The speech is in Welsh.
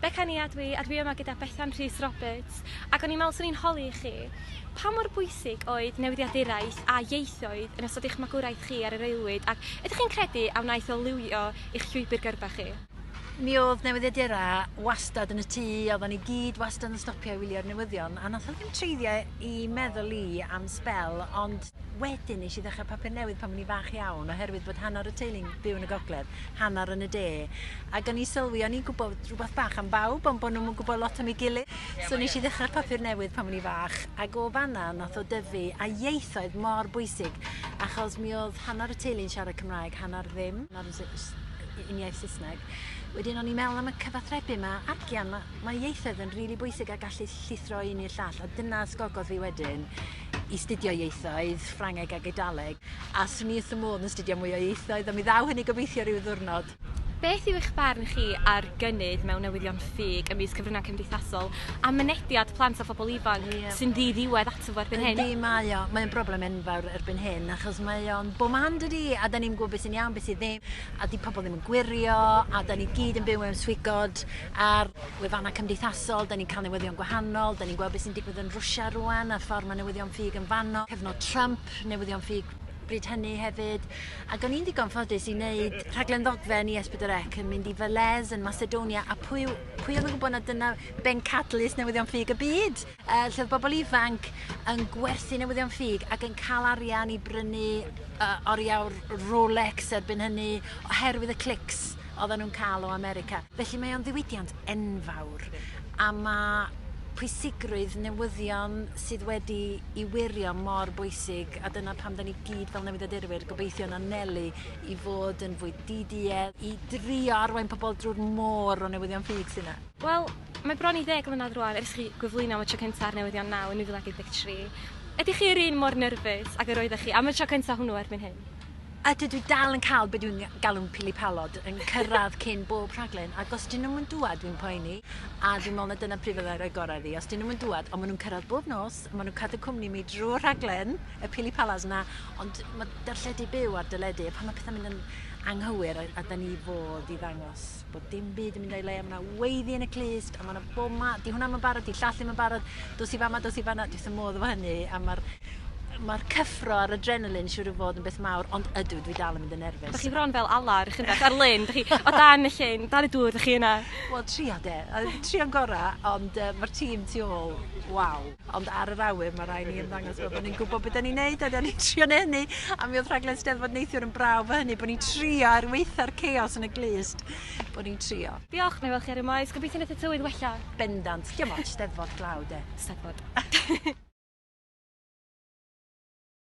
Beca ni a dwi, a dwi yma gyda Bethan Rhys Roberts, ac o'n i'n meddwl 'swn i'n holi i chi, pa mor bwysig oedd newyddiaduraeth a ieithoedd yn ystod eich magwraeth chi ar yr aelwyd, ac ydych chi'n credu a wnaeth o liwio eich llwybr gyrfa chi? Mi oedd newyddiadura wastad yn y tŷ, oeddan ni gyd wastad yn stopio i wylio'r newyddion, a nath o ddim treiddio i meddwl i am sbel, ond, Wedyn nes i ddechrau papur newydd pan o'n i'n fach iawn oherwydd bod hanner y teulu'n byw yn y gogledd, hanner yn y de. Ac o'n i'n sylwi, o'n i'n gwybod rhywbeth bach am bawb ond bod nhw'm yn gwybod lot am ei gilydd. So nes i ddechrau'r papur newydd pan o'n i'n fach ac o fanna nath o dyfu a ieithoedd mor bwysig achos mi oedd hanner y teulu'n siarad Cymraeg, hanner ddim, uniaith Saesneg. Wedyn o'n i'n meddwl am y cyfathrebu yma, agian, mae ieithoedd yn rili bwysig a gallu llithro un i'r llall a dyna ysgogodd fi wedyn i studio ieithoedd, Ffrangeg ac Eidaleg, a swn i wrth y modd yn studio mwy o ieithoedd, ond mi ddaw hynny gobeithio rhyw ddwrnod. Beth yw eich barn chi ar gynnydd mewn newyddion ffug ym mis cyfryngau cymdeithasol a mynediad plant a phobl ifanc yeah. sy'n ddi-ddiwedd ato fo erbyn hyn? Ydy, mae o. Mae'n broblem enfawr erbyn hyn, achos mae o'n bo man dydy, a da ni'n gwybod beth sy'n iawn, beth sy'n ddim, a di pobl ddim yn gwirio, a da ni gyd yn byw mewn swigod, a'r wefannau cymdeithasol, 'da ni'n cael newyddion gwahanol, 'da ni'n gweld beth sy'n digwydd yn Rwsia rwan, a'r ffordd mae newyddion ffug yn fanno, cyfnod Trump, newyddion ffug bryd hynny hefyd. Ac o'n i'n ddigon ffodus i wneud rhaglen ddogfen i Esbydorec yn mynd i Velez yn Macedonia, a pwy, pwy oedd yn gwybod na dyna bencadlys newyddion ffug y byd? Yy lle oedd bobl ifanc yn gwerthu newyddion ffug ac yn cael arian i brynu yy oriawr Rolex erbyn hynny oherwydd y clics oedden nhw'n cael o America. Felly mae o'n ddiwydiant enfawr a mae pwysigrwydd newyddion sydd wedi i wirio mor bwysig a dyna pam 'da ni gyd fel newyddiadurwyr gobeithio'n anelu i fod yn fwy DDE i drio arwain pobl drwy'r môr o newyddion ffug sydd 'na. Wel, mae bron i ddeg mlynedd rwan ers chi gyflwyno am y tro cyntaf ar newyddion naw yn 2013. Ydych chi yr un mor nyrfys ag yr oeddech chi am y tro cyntaf hwnnw erbyn hyn? Ydw, dwi dal yn cael be dwi'n galw'n pili palod yn cyrraedd cyn bob rhaglen ac os 'dyn nhw'm yn dŵad dwi'n poeni a dwi'n meddwl na dyna pryd fyddai rhoi gorau iddi. Os 'dyn nhw'm yn dŵad, ond maen nhw'n cyrraedd bob nos, maen nhw'n cadw cwmni i mi drwy'r rhaglen, y pili palas 'na, ond mae darlledu byw ar deledu a pan mae pethau'n mynd yn anghywir a 'da ni fodd i ddangos bod dim byd yn mynd o'i le, mae yna weiddi yn y clust, a mae yna bob ma, di hwnna mae'n barod, di llall ddim yn barod, dos i fama, dos i fanna, dwi'n sy'n modd efo hynny, a mae'r ma cyffro a'r adrenalin siwr o fod yn beth mawr, ond ydw, dwi dal yn mynd yn nerfus. Dych chi fron fel ala ar eich ar lyn, dych chi, o dan y llyn, dan y dŵr, dych chi yna. Wel, trio de, trio'n gorau, ond uh, mae'r tîm tu ôl, waw. Ond ar yr awyr, mae rhaid ni ymddangos fel bod ni'n gwybod beth da ni'n neud, a da ni'n trio neud hynny. A mi oedd rhaglen Steddfod neithiwr yn braf fy hynny, bod ni'n trio er weitha'r chaos yn y glust, bod ni'n trio. Diolch, neu weld chi ar y maes. Gobeithio wneud y tywydd wella. Bendant. Diolch, Steddfod glaw de. Steddfod.